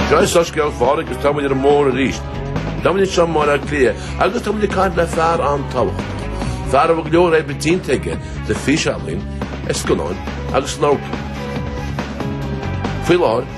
Seo é Soiscéal Pháraic agus táimid ar an mbóthar arís. Táimid anseo i mBaile Átha Cliath agus táimid ag caint le fear an-tábhachtach. Fear a bhfuil go leor éibítínte aige le físeálainn, ar scannáin agus in amharclanna. Faoi láthair,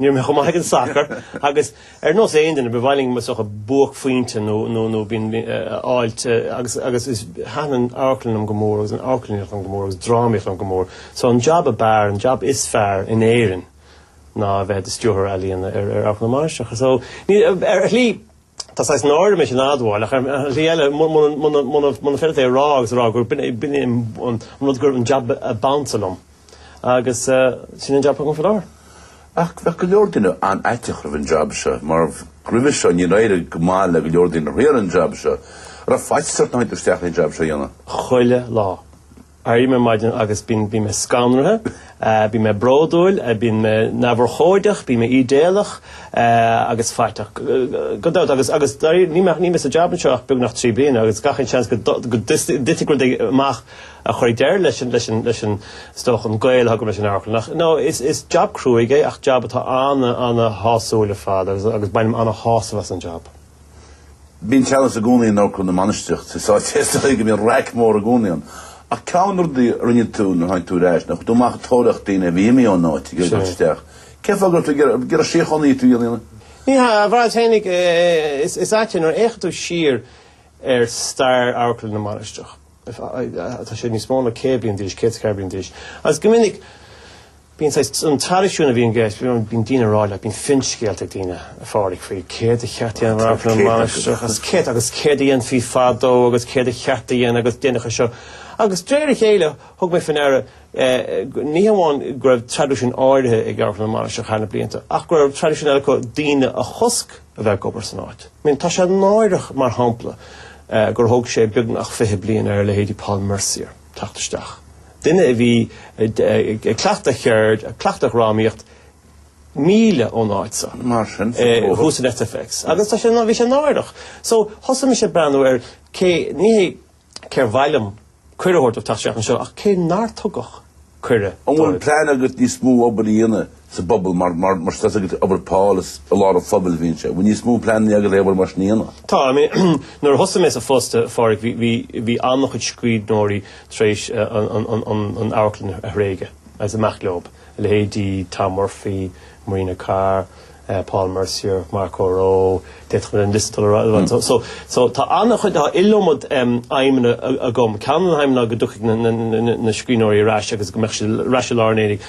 Ní raibh mé chomh maith ag an sacar agus ar nós aon duine, ba mhaith liom i mo shacar buaicphointe nó nó nó binn a fháilt agus agus is thaitin an amharclann liom go mór agus an amharclannaíocht liom go mór agus drámaíocht liom go mór. So an jab ab fhearr, an jab is fearr in Éirinn ná a bheith i do stiúrthóir ealaíona ar ar amharclann na Mainistreach. So ar shlí, Tá saghas náire orm é sin a admháil, ach ar shlí eile, níl mé faiteach é a rá agus a rá gur b'in é an rud gurbh é an jab ab ansa liom, agus sin an jab atá agam faoi láthair. Ach bheadh go leor daoine an-fhaiteach roimh an jab seo, mar roimhe seo níor éirigh go maith le go leor daoine a thriail an jab seo. An raibh faitíos ort nuair a tháinig tú isteach leis an jab seo a dhéanamh? Chuile lá. Airím ar maidin agus bíonn mé scanraithe, bíonn mé bródúil, bíonn mé neamhurchóideach, bíonn mé ídéalach agus faiteach, gan dabht, agus agus dáiríre níl mé sa jab anseo ach beagnach trí bliana agus gach aon seans go dtitfidh rud éigin amach a chuirfidh deireadh leis an leis an leis an is dócha an gaol agam leis an amharclann ach no is jab cruaigh é ach jab atá ana ana shásúil ar fad agus agus bainim ana shásamh as an jab. Bíonn teannas i gcónaí in Amharclann na Mainistreach, is áit is dóigh go mbíonn raic mór i gcónaí ann. Ach ceann de na rudaí a rinne tú nuair a tháinig tú ar ais, ná chuir tú amach ag tóraíocht daoine a bhí imithe ón áit, á n-iarraidh isteach. Cén fáth? An gceapann tú gurbh síochánaí thú ná aon ní? Ní hea, a bheith fírinneach, is ait é nuair a fhéachann tú siar ar stair Amharclann na Mainistreach, tá sé níos mó na céad bliain d'aois, céad is ceathair bliain d'aois. Agus go minic bíonn saghas an traidisiún a bhíonn i gceist, bíonn bíonn daoine ag rá leat, bíonn finscéalta ag daoine, a Phádraig, faoi céard a cheart a dhéanamh ar amharclann na Mainistreach, agus céard agus céard a dhéanfaí fadó agus céard a cheart a dhéanamh agus déan seo. Agus de réir a chéile thug mé faoi ndeara eh, go- ní hamháin go raibh traidisiún áirithe ag amharclann na Mainistreach thar na blianta ach go raibh traidisiún eile acu daoine a chosc a bheith ag obair san áit. I mean, tá sé náireach, mar shampla, gur thóg sé beagnach fiche bliain ar a leithéidí Paul Mercier teacht isteach, duine a bhí ag cleachtadh cheird, ag cleachtadh dhrámaíocht, míle ón áit seo. Mar sin, sa Tóraigh. Thuas in SFX. Agus tá sé, bhí sé náireach. So, thosaigh mise ag breathnú ar cé, ní hea, cé'r mhaith liom cuireadh a thabhairt dóibh teacht isteach annseo, ach cé nár tugadh cuireadh dóibh. An bhfuil plean agat níos mó obair a dhéanamh sa bpobal mar, mar, mar tá a fhios agat obair Paul is i lár an phobail a bhíonn sé. An bhfuil níos mó pleanannaí agat é obair mar sin a dhéanamh? Tá, I mean nuair a thosaigh mé sa phost a Phádraic bhí, bhí, bhí an-chuid scríbhneoirí tar éis an, an, an, an, an amharclann a thréigeadh ag siúl amach leob, leithéidí Tom Murphy, Marina Carr, Paul Mercier, Mark O'Rowe, d'fhéadfadh mé an liosta dul ar aghaidh liom. So, so, tá an-chuid, tá iliomad aidhmeanna agam. Ceann de na haidhmeanna ná go dtiocfaidh na, na, na, na, na scríbhneoirí ar ais agus go mbeadh siad ar ais i lár an aonaigh.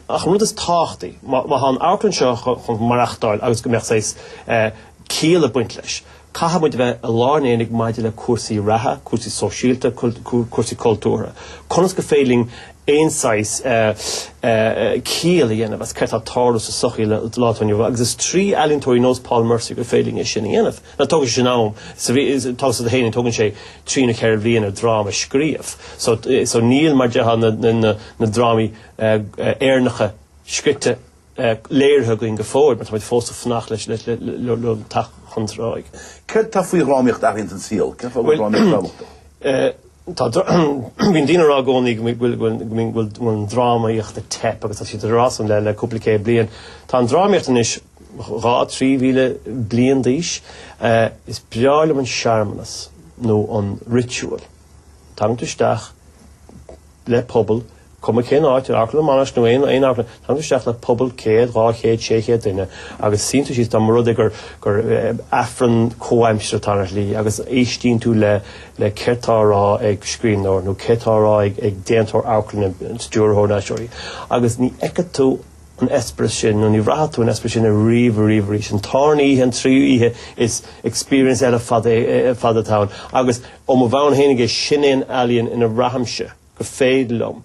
Ach an rud is tábhachtaí, má, má tá an amharclann seo chun, chun maireachtáil agus go mbeadh saghas, eh, ciall ag baint leis. Caithfimid a bheith i lár an aonaigh maidir le cúrsaí reatha, cúrsaí sóisialta, cúrsaí cultúrtha. Conas gur féidir linn aon saghas ciall a dhéanamh as céard tá ag tarlú sa sochaí sa lá atá inniu ann. Agus is trí ealaíontóirí nós Paul Mercier gur féidir linn é sin a dhéanamh. Now tógann sé sin am. Tá a fhios agat féin, tógann sé trí nó ceithre bhliana dráma a scríobh. So so níl mar déarfá na drámaí Éireannacha scríte, léirithe againn go fóill, mar táimid fós ag fanacht leis le teacht chun cinn. Céard tá faoi dhrámaíocht a Fhiaich a shíl? Cén fáth go bhfuil drámaíocht tábhachtach? Bíonn daoine ag rá i gcónaí go bhfuil an drámaíocht ag teip agus tá siad ag rá san le cúpla céad bliain. Tá an drámaíocht anois dhá trí mhíle bliain d'aois. Is breá liom an searmanas nó an ritual, tagann tú isteach, le pobal, cuma cén áit, ar amharclann mar an Abbey nó aon aon amharclann, tagann tú isteach le pobal céad, dhá chéad, sé chéad duine agus suíonn tú síos, tá sé mar a bheadh gur gur aifreann comhaimseartha atá ann ar shlí agus éistíonn tú le le céard atá á rá ag scríbhneoir nó céard atá á rá ag ag déantóir amharclainne, stiúrthóir, na haisteoirí, agus ní fheicfidh tú an t-eispéireas sin nó ní bhraithfidh tú an t-eispéireas sin ariamh ariamh arís. An tarna oíche, an tríú oíche is experience eile ar fad atá ann agus ó mo thaobh fhéinig de sin é an ealaíon ina mbraithimse gur féidir liom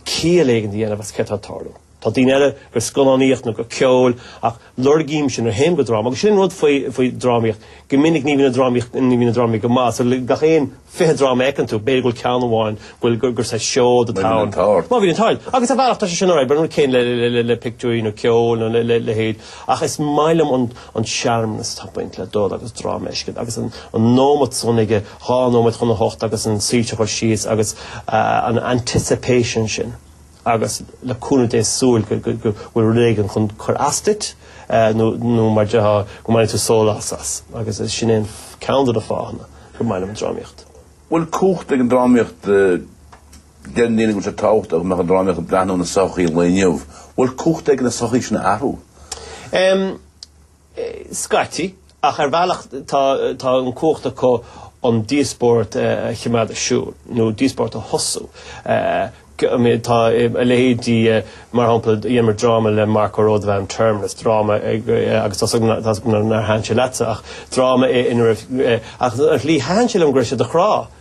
ciall éigin a dhéanamh as céard tá ag tarlú. Tá daoine eile gur scannánaíocht nó gur ceol ach Lorgaímse, nuair a théim go dráma, agus sin an rud faoi drámaíocht, go minic ní bhíonn an drámaíocht, ní bhíonn an drámaíocht go maith, so le gach aon fiche dráma a fheiceann tú, b'fhéidir go bhfuil ceann amháin go bhfuil, gur, gur saghas seoid atá ann. Má bhíonn an t-ádh ort. Má bhíonn an t-ádh ort. Agus ar bhealach tá sé sin alright, but an rud céanna le, le, le, le pictiúirí nó ceol nó le, le, leithéid. Ach is maith liom an, an searmanas atá ag baint le dul agus dráma a fheiscint agus an, an nóimeat san ag a dhá nóiméad chun a hocht agus na soilse a chur síos agus an anticipation sin. agus le cúnamh Dé súil go bhfuil rud éigin chun cur as duit nó mar déarfá go mbainfidh tú sólás as agus sin é ceann de na fáthanna gur maith liom an drámaíocht. Bhfuil cumhacht ag an drámaíocht? Deireann daoine go bhfuil sé tábhachtach go mbeadh an drámaíocht ag breathnú ar an sochaí an lae inniu. Bhfuil cumhacht aige an sochaí sin a athrú? Scaití, ach ar bhealach tá an cumhacht acu an díospóireacht a chimeád ar siúl, nó díospóireacht a thosú. Tá a leithéidí, mar shampla, dheineamar dráma le Mark O'Rowe, darb ainm, Terminus, dráma, agus tá's agam nár thaitin sé leatsa, ach dráma é ina raibh, ach ar shlí thaitin sé liom go raibh sé do chrádh.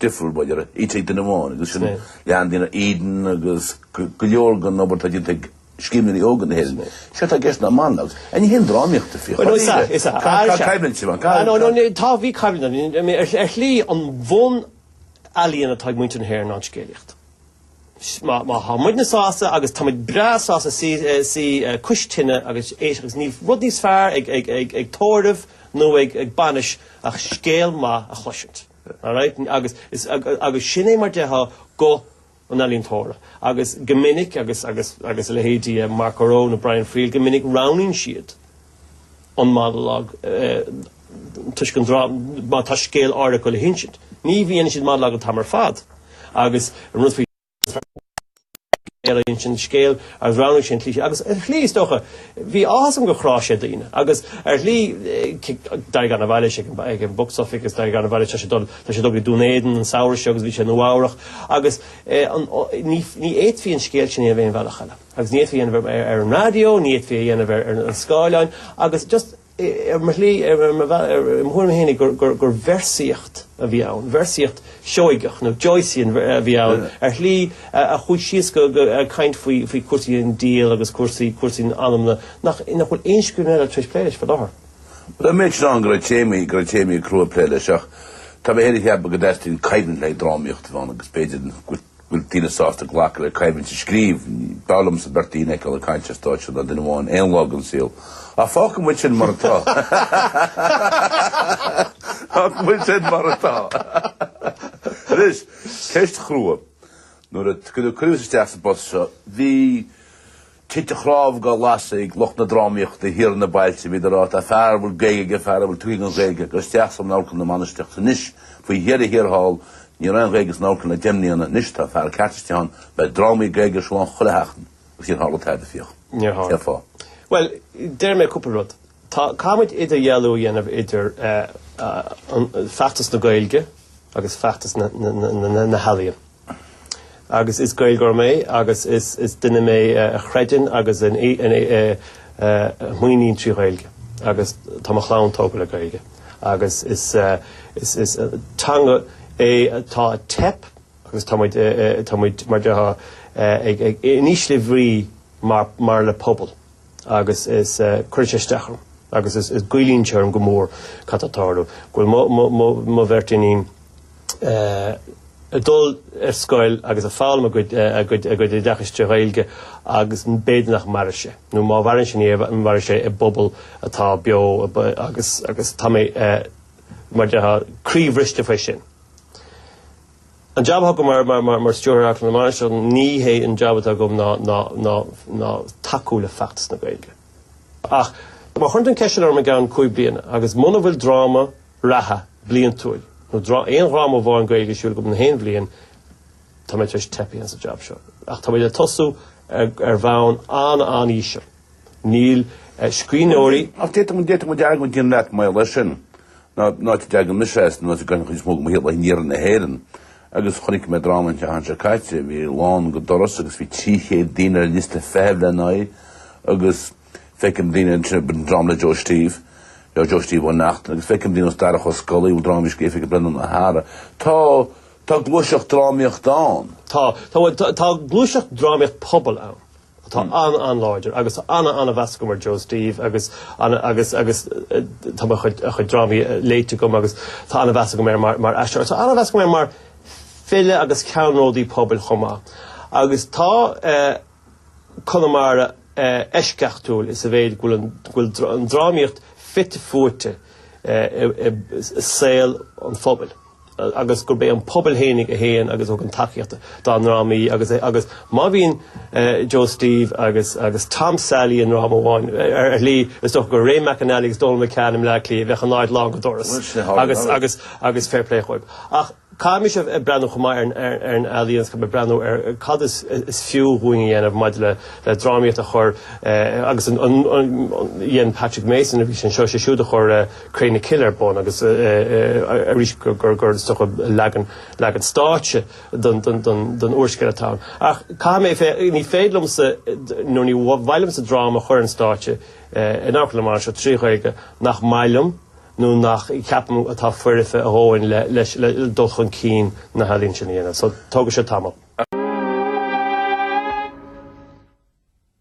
difriúil b'fhéidir, a fhios ag duine amháin agus sin leithéidí Eden agus go leor den obair atá déanta ag scríbhneoirí óga na hÉireann. Seo atá i gceist ná an ann agus an ea an drámaíocht í. Chomh Is ea, daoire. is ea. Tá Ar seo. coimhlint siúd ann. Cá Ar seo. Nó tá, bhí coimhlint ann. I mean, ar shlí an bhun-ealaín atá ag muintir na hÉireann ná an scéalaíocht. Má, má tá muidne sásta agus táimid breá sásta suí, suí cois tine agus éisteacht agus níl rud níos fearr ag, ag, ag, ag tórramh nó ag, ag bainis ach scéal maith a chloisint. All right, agus is, agus sin é mar déarfá guth an ealaíontóra. Agus go minic, agus, agus, agus a leithéidí eh, Mark O'Rowe nó Brian Friel, go minic roghnaíonn siad an monologue eh, toisc an drá má tá scéal ar leith le hinsint. Ní bhíonn siad monologue an t-am ar fad agus an rudfaí Tá mé ag iarraidh an scéal agus roghnaigh sé an tslí seo agus ar shlí is dócha bhí áthas orm gur chráigh sé daoine agus ar shlí d'éirigh go han-mhaith leis ag an box office agus d'éirigh go han-mhaith leis tá sé dul tá sé dul go dtí Dún Éideann an samhradh seo agus bhí sé i Nua-Eabhrac agus ní ní fhéadfaí an scéal sin a dhéanamh aon bhealach eile agus ní fhéadfaí a dhéanamh ar ar an raidió ní fhéadfaí a dhéanamh ar ar an scáileán agus just Ar shlí, ar mo thuairim fhéinig, gur véarsaíocht a bhí ann, véarsaíocht Sheoigeach nó Joycean a bhí ann ar shlí a chuaigh síos go ag caint faoi chúrsaí an tsaoil agus cúrsaí an anama nach bhfuil aon scríbhneoir eile tar éis plé leis faoi láthair. Bhuel, admhaím duit go raibh téamaí, go raibh téamaí crua ag plé leis ach tá mé fhéin ag ceapadh go dteastaíonn coimhlint le drámaíocht a bheith ann agus b'fhéidir go bhfuil daoine sásta glacadh le coimhlint sa scríobh. B'fhearr liomsa beirt daoine a fheiceáil ag caint ar stáitse ná duine amháin aon lá den saol. Ach fágfaidh muid sin mar atá. Fágfaidh muid sin mar atá. Anois, ceist chrua. Nuair a cuireadh cuireadh thusa isteach sa bpost seo, bhí. Tinte cnámh á lasadh ag lucht na drámaíochta thiar sna bailte bhíodar ag rá tá fear a bhfuil Gaeilge aige, fear a bhfuil tuiscint don Ghaeilge aige isteach san Amharclann na Mainistreach. Anois faoi dheireadh thiar thall ní raibh aon Ghaeilge san Amharclann le deich mbliana, anois tá fear ceart istigh ann, beidh drámaí Gaeilge ar siúl ann chuile sheachtain agus níor tharla tada. Fiach. Níor tharla. Cén fáth? Bhuel, déarfaidh mé cúpla rud. Tá caithimid idirdhealú a dhéanamh idir feachtas na Gaeilge agus feachtas na healaíon. Agus is Gaeilgeoir mé agus is duine mé a chreideann agus a mhaireann trí Ghaeilge agus tá mo chlann tógtha le Gaeilge agus is teanga é atá ag teip agus táimid mar déarfá in ísle bhrí mar phobal. agus is cuireann sé isteach orm agus is goilleann sé orm go mór cad atá ag tarlú, go bhfuil mo, mo, mo, mo bheirt iníon ag dul ar scoil agus ag foghlaim a gcuid, a gcuid, a gcuid oideachais trí Ghaeilge agus b'fhéidir nach mairfidh sé, nó má mhaireann sé ní mhairfidh sé i bpobal atá beo agus, agus tá mé, mar déarfá, croíbhriste faoi sin. An jab atá agam mar Stiúrthóir Amharclann na Mainistreach, ní hé an jab atá agam ná tacú le feachtas na Gaeilge. Ach má chuireann tú an cheist sin orm i gceann cúig bliana agus muna bhfuil dráma reatha bliantúil nó aon dhráma amháin Gaeilge ar siúl agam in aon bhliain, tá mé tar éis teipeadh sa jab seo. Ach tá muid ag tosú ar bhonn an-an-íseal. Níl scríbhneoirí. Ach d'fhéadfadh muid argóint a dhéanamh leat maidir leis sin. An áit a dteagann mise as, an áit a gcaithim cuid mhór de mo shaol, in iarthar na hÉireann. Agus chonaic mé dráma an tseachtain seo caite, a bhí lán go doras agus bhí trí chéad daoine ar liosta feithimh lena aghaidh agus feicim daoine ansin, b'in dráma le Joe Steve, le Joe Steve Ó Neachtain, agus feicim daoine ar nós Darach Ó Scolaí, bhuel dráma a bhí scríofa ag Breandán Ó hEaghra. Tá, tá gluaiseacht drámaíochta ann. Tá, tá, bhuel tá gluaiseacht drámaíocht pobail ann. atá an-an-láidir agus tá an-an-mheas agam ar Joe Steve agus agus agus tá a chuid a chuid drámaí léite agam agus tá an-mheas agam air mar mar aisteoir. Tá an-mheas agam air mar file agus ceannródaí pobail chomh maith. Agus tá Conamara eisceachtúil sa mhéid go bhfuil an drámaíocht fite fuaite i saol an phobail. agus gurb é an pobal fhéinig a théann agus a thugann tacaíocht dá ndrámaí agus agus má bhíonn Joe Steve agus agus Tom Sailí i ndráma amháin ar shlí is dócha gur Ray McAnally agus Donal McCann i mBleá Cliath bheadh an áit lán go doras agus agus agus fair play dhóibh. Ach caithfidh mise breathnú chomh maith ar ar ar an ealaín caithfidh mé breathnú ar cad is is fiú dhúinn a dhéanamh maidir le le drámaíocht a chur agus an an dhein Patrick Mason nuair a bhí sé anseo sé siúd a chuir Cré na Cille ar bun agus arís gur is dócha leagan stáitse den úrscéal atá ann. Ach caithfidh mé a bheith, ní féidir liomsa nó ní mhaith liomsa dráma a chur ar an stáitse in amharclann mar seo trí Ghaeilge nach maith liom nó nach ceapaim atá foirfe a dhóthain le dul chun cinn na healaíne sin a dhéanamh. So tógfaidh sé tamall.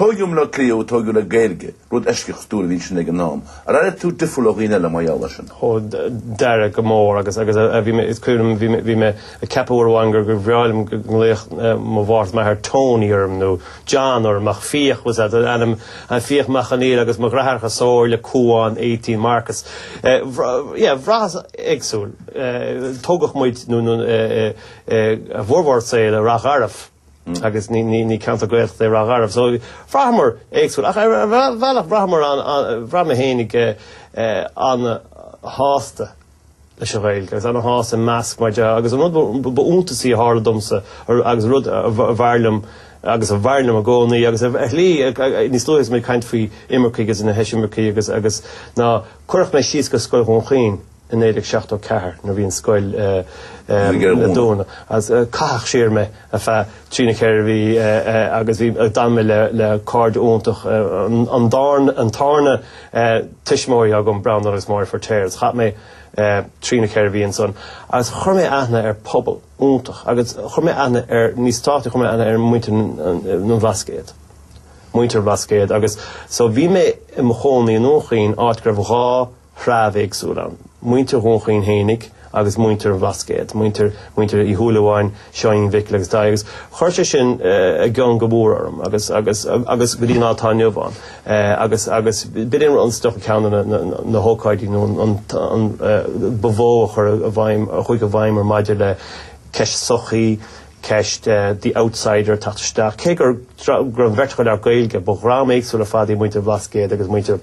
Tógadh i mBleá Cliath thú, tógadh le Gaeilge, rud eisceachtúil a bhí ansin ag an am. Ar airigh tú difriúil ó dhaoine eile mar gheall ar sin? Ó, d'airigh, go mór agus, agus eh, bhí mé, is cuimhin liom, bhí mé, bhí mé ag ceapadh uair amháin gur, gur bhreá liom go nglaofadh eh, mo mháthair is m'athair Tony orm nó John orm ach Fiach was an t-ainm, eh, Fiach Mac Conghail agus mo dheartháireacha Somhairle, Cuán, Étaín, Marcus. Eh, bhra- yeah, bhraitheas éagsúil. Eh, tógadh muid nó, nó eh, eh, eh, a bhformhór saol i Ráth Garbh. agus ní ceantar Gaeltachta é Ráth Garbh, so bhraitheamar éagsúil. Ach ar bhealach bhraitheamar bhraith mé fhéinig an-shásta leis an Ghaeilge, agus an-shásta i measc mar dhea, agus an rud ba iontasaí a tharla domsa agus rud ab fhearr liom agus ab fhearr liom i gcónaí, agus ar shlí níos luaithe is mé ag caint faoi imircigh agus na heisimircigh agus ná cuireadh mé síos go Scoil Dhún Chaoin. i 1974 nuair a bhí an scoil le dúnadh agus caitheadh siar mé ar feadh trí nó ceithre mhí agus bhí d'fhan mé le cairde iontach an dárn an tárna tuismitheoirí agam Breandán agus Máire Feirtéar is chaith mé trí nó ceithre mhí ansan agus chuir mé aithne ar phobal iontach agus chuir mé aithne ar níos tábhachtaí chuir mé aithne ar mhuintir an Bhlascaoid muintir an Bhlascaoid agus so bhí mé i mo chónaí i nDún Chaoin áit go raibh dhá dhream éagsúil ann, muintir Dhún Chaoin fhéinig agus muintir an Bhlascaoid, muintir, muintir Uí Shúilleabháin, Seáinín Mhicil agus Daithí agus chuir sé sin i gcion go mór orm agus, agus, agus go dtí an lá atá inniu ann agus, agus b'in é an stuif ceann de na, na, na hócáidí nó an, an, an ba mhó a chuir i bhfeidhm, a chuaigh i bhfeidhm orm maidir le ceist sochaí, ceist the outsider teacht isteach cé gur, go raibh an bheirt acu le Gaeilge ba dhream éagsúil ar fad iad muintir an Bhlascaoid agus muintir.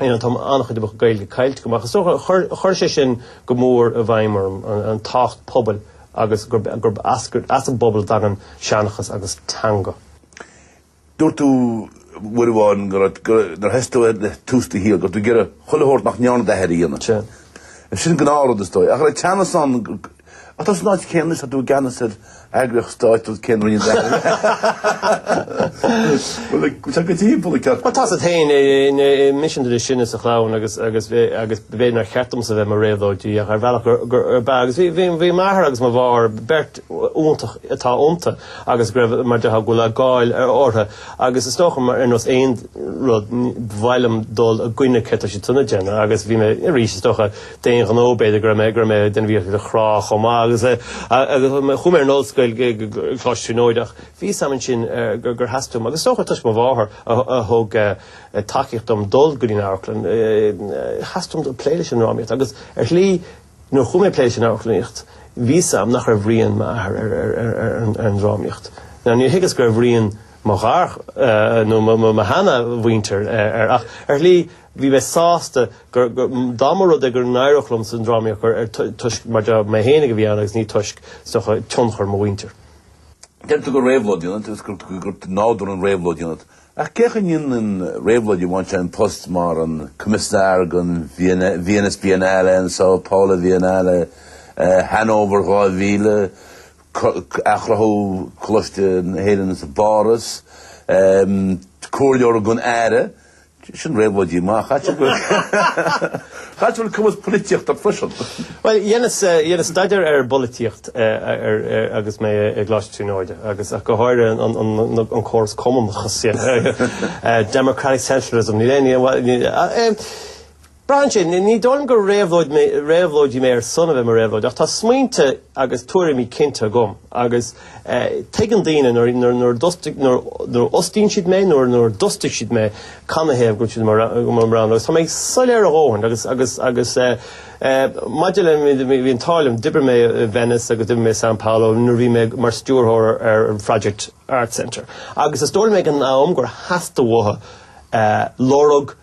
Tá an-chuid de mo chuid Gaeilge caillte go maith. So chuir sé sin go mór i bhfeidhm orm, tábhacht pobail agus gurb as an bpobal a thagann seanchas agus teanga. Dúirt tú uair amháin go raibh, nuair thosaigh tú i dtús do shaoil, go raibh tú ag iarraidh chuile shórt nach ndearna d'athair a dhéanamh. Sin gnáth rud is dóigh. Ach an raibh teannas ann? Ach tá tú san áit céanna anois tá tú i gceannas ar eagraíocht stáit nó cén roinn atá air. Bhuel like tá go timpeall an ceart. Bhuel tá's ort féin, ní sean duine sin is a chlann agus agus agus b'fhéidir nár cheart domsa bheith mar réabhlóidí ach ar bhealach gur gur ab ea agus bhí bhí m'athair agus mo mháthair beirt iontach atá iontu agus go raibh mar dhea go leor cáil orthu agus is dócha mar ar nós aon rud ba mhaith liom dul i gcoinne cad atá siadsan ag déanamh agus bhí mé arís is dócha d'aon ghnó b'fhéidir go raibh mé go raibh mé ag déanamh iarracht iad a chrá chomh maith agus agus chuaigh mé ar an ollscoil go go Coláiste na Tríonóide ach bhí a fhios agam ansin gur gur theastaigh uaim agus is dócha toisc mo mháthair a a thug tacaíocht dom dul go dtí an amharclann theastaigh uaim plé leis an ndrámaíocht agus ar shlí nuair a chuaigh mé ag plé leis an amharclannaíocht bhí a fhios agam nach raibh rian m'athar ar ar ar ar an ar an drámaíocht now níor thuigeas go raibh rian mo mháthar nó mo mo mo sheanamhuintir ar ar ach ar shlí Bhí mé sásta gur, dá mba rud é gur n-éireodh liom sa ndrámaíocht, gur ar toisc mar de mé fhéinig a bhí ann agus ní toisc, is dócha, tionchar mo mhuintir. Deir tú gur réabhlóid ionat agus gur de nádúr an réabhlóidí ionat. Ach cén chaoi a ndéanann réabhlóidí a bhaint an post mar an Coimisnear don Venice Biennale an Sao Paulo Biennale, Hanover 2000, athchruthú Choláiste na hÉireann sa bPáras, Comhairleoir don Aire, Sin réabhlóidí maith, caithfidh go bhfuil cumas polaitíochta agat freisin. Bhuel, dheineas staidéar ar bpolaitíocht agus mé i gColáiste Tríonóide agus go háirithe an córas cumannachais, democratic centralism, níl aon ní, Brainse, Ní dóigh liom gur réabhlóidí mé ar son a bheith mar réabhlóid ach tá smaointe agus tuairimí cinnte agam agus tuigeann daoine nuair a fhostaíonn siad mé nó nuair a d'fhostaigh siad mé canathaobh go bhfuil siad i mbun roghanna agus tá mé soiléir a dhóthain agus agus agus maidir le bhí an t-ádh liom d'oibrigh mé i Venice agus d'oibrigh mé i Sao Paulo nuair a bhí mé mar stiúrthóir ar an Phroject Arts Centre agus is dóigh liom ag an am gur theastaigh uathu lorg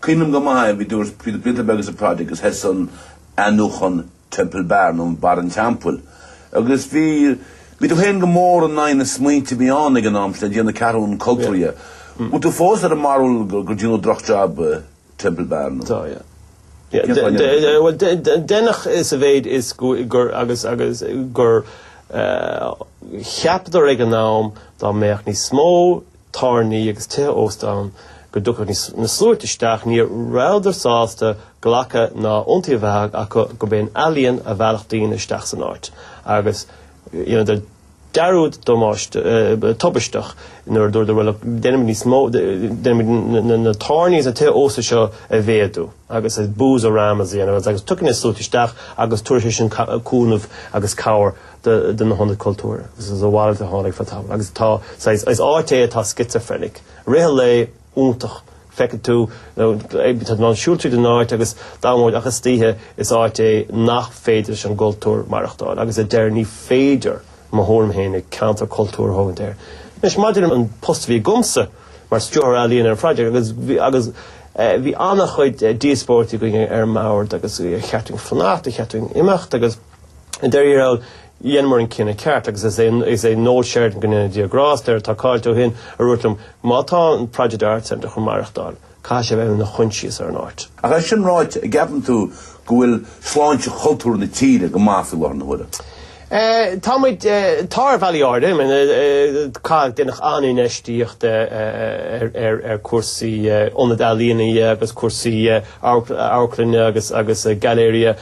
Cuimhin liom go maith a bhí dúirt Peter Peterberg is a Project agus thosaigh an athnuachan Temple Bar nó Barra an Teampaill agus bhí bhí tú féin go mór in aghaidh na smaointe a bhí ann ag an am sin i dtaobh na ceathrún cultúrtha. Bhfuil tú fós ar an mbarúil gur gur deineadh drochjab Temple Bar nó Tá, yeah. Yeah, cén fáth deineadh sé? bhuel, deineadh sa mhéid is go gur agus agus gur eh, cheapadar ag an am dá mbeadh níos mó tábhairní agus tithe ósta ann go dtiocfadh na sluaite isteach, ní rabhadar sásta glacadh ná iontaoibh a bheith acu gurb é an ealaíon a mheallfadh daoine isteach san áit agus dheineadar dearúd tubaisteach nuair a dúradar bhuel déanfaimid níos mó, déanfaimid na tábhairní agus na tithe ósta seo a mhéadú agus Boozeramas a dhéanamh agus tiocfaidh na sluaite isteach agus tabharfaidh sé sin cúnamh agus cabhair do na hionaid cultúrtha agus is a mhalairt a tháinig fá tamall agus tá, saghas, is áit é atá schizophrenic. I rith an lae iontach. Feicfidh tú, nó ag, tá tú in ann siúl tríd an áit agus dá mhóid ach istoíche is áit é nach féidir leis an gcultúr maireachtáil agus a deir ní féidir i mo thuairim féinig ceantar cultúir a thógaint air. Anois maidir an post a bhí agamsa mar Stiúrthóir Ealaíon ar an Phroject agus, agus eh, bhí an-chuid díospóirití againn ar an mbord agus ar cheart dúinn fanacht, ar cheart dúinn imeacht agus, I ndáiríre, dheineamar an cinneadh ceart agus is é Noel Sheridan, go ndéana Dia grásta air, atá caillte ó shin, a dúirt liom, má tá an Project Arts Centre chun maireachtáil, caithfidh sé bheith ina choinsias ar an áit. Ach é sin ráite, an gceapann tú go bhfuil sláinte chultúr na tíre go maith faoi láthair na huaire? Tá muid, tá ar bhealaí áirithe. I mean, ca, deineadh an-infheistíocht ar cúrsaí ionad ealaíona agus cúrsaí amharclainne agus gailearaithe.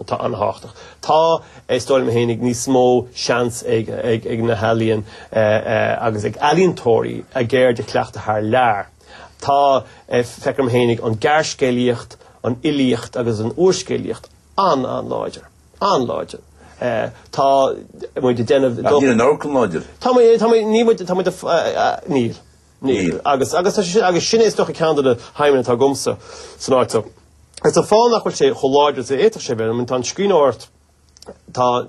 Tá an-thábhachtach. Tá, is dóigh liom féinig, níos mó seans ag na healaíon agus ag ealaíontóirí a gceird a chleachtadh thar lear. Tá, feictear dom féinig, an gearrscéalaíocht, an fhilíocht agus an úrscéalaíocht an-an-láidir. An-láidir. Tá muid ag déanamh. Ach níl an amharclann láidir. Tá muid, tá muid, níl muid, tá muid, níl. Níl. Agus sin é is dócha ceann de na haidhmeanna atá agamsa san áit so. Is an fáth nach bhfuil sé chomh láidir is a fhéadfadh sé bheith, tá an scríbhneoireacht, tá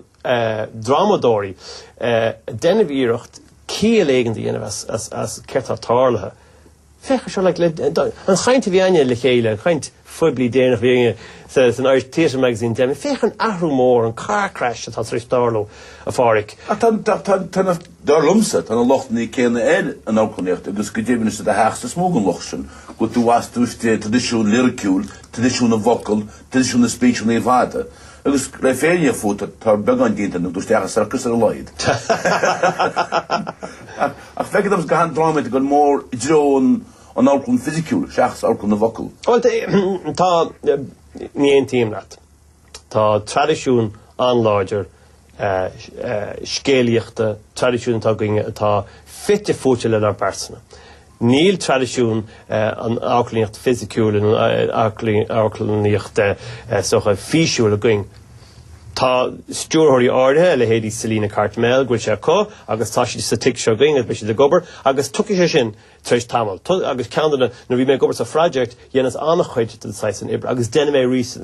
drámadóirí ag déanamh iarracht ciall éigin do dhéanamh as céard tá tarlaithe. Féach anseo, an chaint a bhí againne le chéile, an chaint. phoiblí déanach a bhí againne sa san Irish Theatre Magazine le déanaí féach an athrú mór, an car crash atá tar éis tarlú, a Phádhraic. Ach tá tá tá tá na dar liomsa tá na lochtanna céanna ar an amharclannaíocht agus go deimhin is i do theachsa is mó den locht sin go tú as tú istigh traidisiún liriciúil, traidisiún na bhfocal, traidisiún na speecheanna fada agus le bheith fírinneach fút tá tá beagán déanta ar na tú isteach i sorcas ar a laghad. Ach ach feictear dom go bhfuil an drámaíocht go mór i dtreo an An amharclann fisiciúil seachas amharclann na bhfocal. Bhuel, tá, ní aontaím leat. Tá traidisiún an-láidir scéalaíochta, traidisiún atá againne atá fite fuaite lenár bpearsana. Níl traidisiún an amharclannaíocht fisiciúil, an amharclannaíocht físiúil againn. Tá stiúrthóirí áirithe, a leithéidí Selina Cartmell, go bhfuil sé acu agus tá siad sa tigh seo againn agus beidh siad ag obair agus tiocfaidh sé sin. tar éis tamaill. Tusa agus ceann de na, nuair a bhí mé ag obair sa Phroject, dheineas an-chuid den saghas san oibre agus déanfaidh mé arís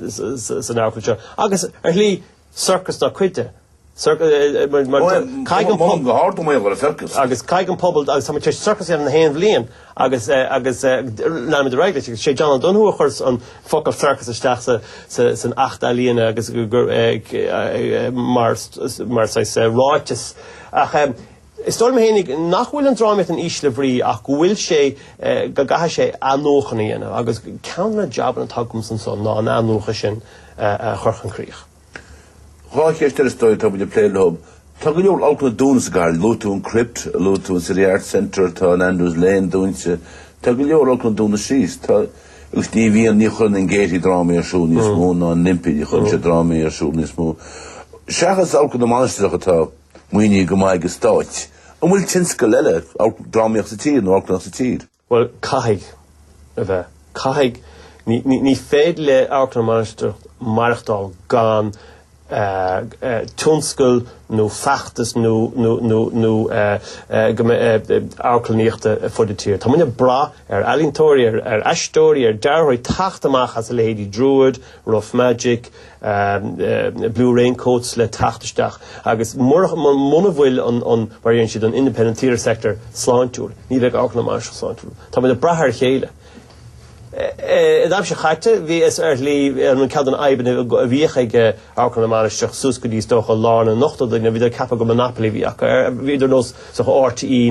san Amharclann seo. Agus, ar shlí, circus ina chuid de. Caithfidh an pobal. Go hard go mbaolach ar an circus. Agus caithfidh an pobal, agus táimid tar éis circus a dhéanamh nach aon bhliain agus leanfaimid ar aghaidh leis. Agus sé John O'Donoghue a chuir an focal circus isteach san Acht Ealaíona agus mar saghas ráiteas. Ach. Is dóigh liom fhéinig nach bhfuil an drámaíocht in ísle bhrí ach go bhfuil sé, go gcaithfidh sé athnuachan a dhéanamh agus ceann de na jabanna atá agamsa anso ná an athnuachan sin a chur chun críche. Dhá cheist eile is dóigh atá muid ag plé leo. Tá go leor amharclanna dúnta sa gcathair. Luaigh tú an Crypt, luaigh tú an City Arts Centre, tá an Andrews Lane dúnta. Tá go leor amharclanna dúnta síos. Tá, agus ní bhíonn, ní chuireann an Gaiety drámaí ar siúl níos mó ná an Olympia, ní chuireann siad drámaí ar siúl níos mó. Seachas Amharclann na Mainistreach atá. maoinithe go maith ag an Stát. An bhfuil tionscal eile drámaíocht sa tír nó amharclannaíocht sa tír? Bhuel, caithfidh a bheith. Caithfidh, ní féidir le Amharclann na Mainistreach maireachtáil gan tionscal nó feachtas nó amharclannaíochta ar fud an tír. Tá muid ag brath ar ealaíontóirí, ar aisteoirí, ar dearthóirí teacht amach as a leithéidí Druid, Rough Magic, Blue Raincoats le teacht isteach agus muna bhfuil an, mar a deireann siad, an independent theatre sector sláintiúil ní bheidh Amharclann na Mainistreach sláintiúil. Táimid ag brath ar a chéile. An aimsir chaite bhí sé ar shlí an ceann de na fhadhbanna a bhíodh ag Amharclann na Mainistreach suas go dtí is dócha lár na n-ochtóidí nuair a bhíodar ag ceapadh gur monopoly a bhí acu ar, bhíodar nós, is dócha, RTÉ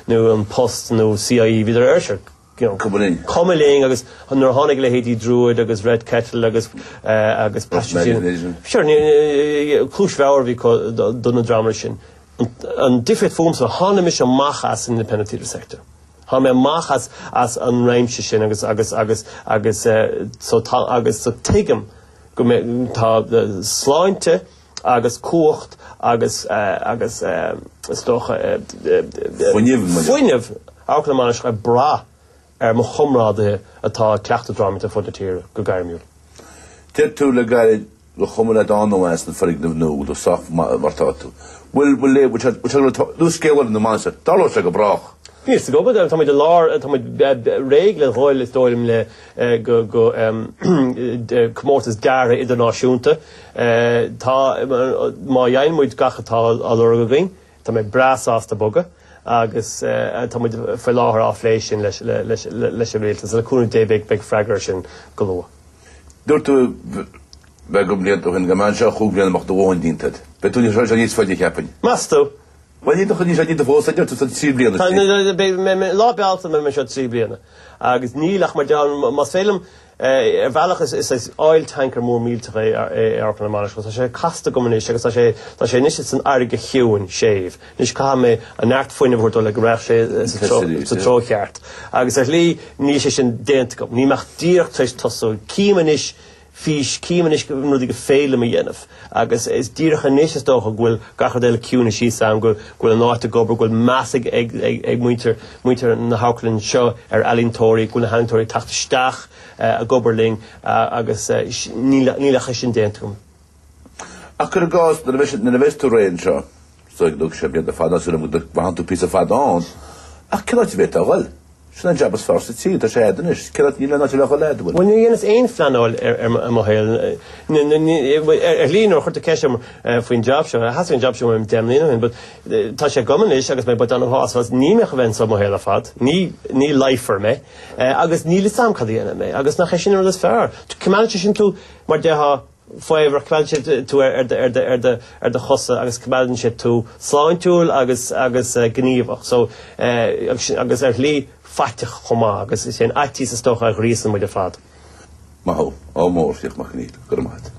nó An Post nó CIE, bhíodar ara sure. Gabh go bhfuil. Cuma linn agus nuair a tháinig a leithéidí Druid agus Red Kettle agus agus Passion Machine, cluas bhodhar a bhí acu do na dreamanna sin. An difríocht fúmsa tháinig mise amach as an independent theatre sector. Tháinig mé amach as as an réimse sin agus agus agus agus so tá agus so tuigim go mbeidh tá sláinte agus cumhacht agus agus is dócha fuinneamh, fuinneamh Amharclann na Mainistreach ag brath ar mo chomrádaithe atá ag cleachtadh drámaíochta ar fud na tíre go gairmiúil. Deir tú le gairid gur chuma leat ann a bheith sna foirgnimh nua go dtí sách mar tá tú. Bhfuil bhfuil léamh bhfuil bhfuil teaghlaigh tá luas scéal Amharclann na Mainistreach an dtarlóidh sé go brách. Níl 's go go tá muid i lár tá muid réidh le dhul is dóigh liom le go comórtas deartha idirnáisiúnta. Tá, má gheibheann muid gach atá á lorg againn, tá mé breá sásta bogadh agus tá muid faoi láthair á phlé sin leis an Rialtas. So le cúnamh Dé beidh freagra ar sin go luath. Dúirt tú beagán blianta ó shin go mbeifeá anseo chúig bliana go mbeadh do chion déanta agat. Beidh tú níos faide cheapfainn. Meas tú? Bhuel, ní dócha, níl sé ní do fós, a deir tú, tá trí bliana istigh. Tá, tá, beidh mé, mé, Lá Bealtaine beidh mé anseo trí bliana agus níl ach, mar a deir, más féidir liom, eh, ar bhealach is, is, is oil tanker mór millteach é, é Amharclann na Mainistreach, tá sé casta agam anois agus tá sé, tá sé anois ins an fharraige chiúin, séimh, anois caithfidh mé an neart fuinnimh a thabhairt dó le go raghadh sé sa treo, sa Fessilies, yeah. treo cheart agus ar shlí níl sé sin déanta agam, níl mé ach díreach tar éis tosú, cím anois, fís, cím anois na rudaí go féidir liom a dhéanamh agus is díreach anois is dócha go bhfuil gach rud eile ciúnaithe síos a'm, go bhfuil an áit ag obair, go bhfuil meas ag ag muintir na hamharclainne seo ar ealaíontóirí, go bhfuil na healaíontóirí ag teacht isteach ag obair linn agus níl ach é sin déanta agam. Ach cuir i gcás, nuair a bheas tú réidh anseo. Thug tú sé blianta fada, sula bhfaigheann tú píosa fada ann. Ach cén áit a bheidh tú ag dhul? Sin an jab is fearr sa tír, tá sé a'd anois. Cén áit, níl aon áit eile a dhul a'd, an bhfuil? Bhuel, níor dheineas aon phleanáil ar mo shaol. Ar shlí, nuair a chuirtear ceist orm faoin jab seo, theastaigh an jab seo uaim deich mbliana ó shin, but tá sé agam anois agus mé buíoch sásta as. Níl mé chun a bheith anseo mo shaol ar fad. Ní, ní ligfear mé. Agus níl 'fhios a'm cad a dhéanfaidh mé. Agus nach é sin an rud is fearr? Coimeádann sé sin tú mar déarfá, faobhar, coimeádann sé tú ar do chosa agus coimeádann sé tú sláintiúil agus agus gníomhach so agus agus ar shlí faiteach chomh maith agus is é an fhaitíos is dócha a ghríosann muid ar fad. Maith thú, ádh mór, Fiach Mac Conghail, go raibh maith a't.